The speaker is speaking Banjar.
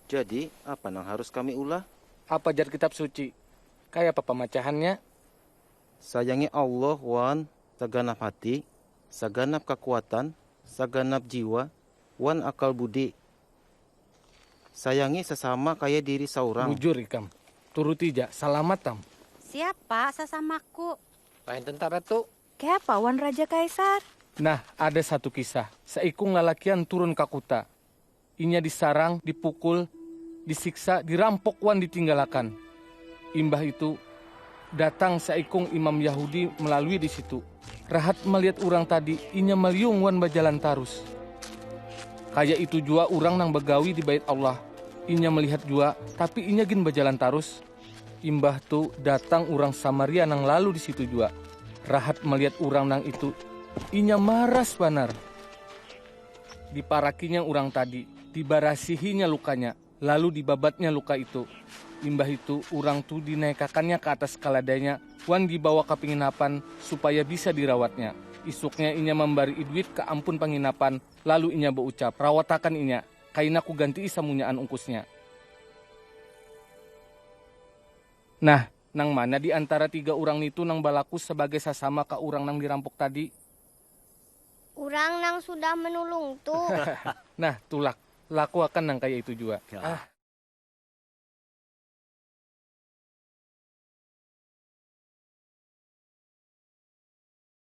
Jadi, apa nang harus kami ulah? Apa jar Kitab Suci? Kayapa pamacahannya? Sayangi Allah wan saganap hati, saganap kakuatan, saganap jiwa, wan akal budi. Sayangi sasama kaya diri saurang. Bujur ikam. Turuti ja. Salamat tam. Siapa sasamaku? Lain tentara tu. Kayapa wan Raja Kaisar? Nah, ada satu kisah. Saikung lalakian turun ka kuta. Inya disarang, dipukul, disiksa, dirampok wan ditinggalakan. Imbah itu, datang saikung imam Yahudi malalui di situ. Rahat malihat urang tadi, inya maliung wan bajalan tarus. Kaya itu jua urang nang bagawi di Bait Allah, inya malihat jua, tapi inya gin bajalan tarus. Imbah tu, datang urang Samaria nang lalu di situ jua. Rahat malihat urang nang itu, inya maras banar. Diparakinya urang tadi, dibarasihinya lukanya, lalu dibabatnya luka itu. Imbah itu, urang tu dinaikakannya ka atas kaladainya wan dibawa ka pinginapan supaya bisa dirawatnya. Isuknya inya mambarii duit ka ampun panginapan, lalu inya baucap, Rawatakan inya, kaina kugantii samunyaan ungkusnya. Nah, nang mana di antara tiga urang nitu nang balaku sabagai sasama ka urang nang dirampuk tadi? Urang nang sudah menulung tu. Nah, tulak. Lakuakan nang kaya itu jua. Ah.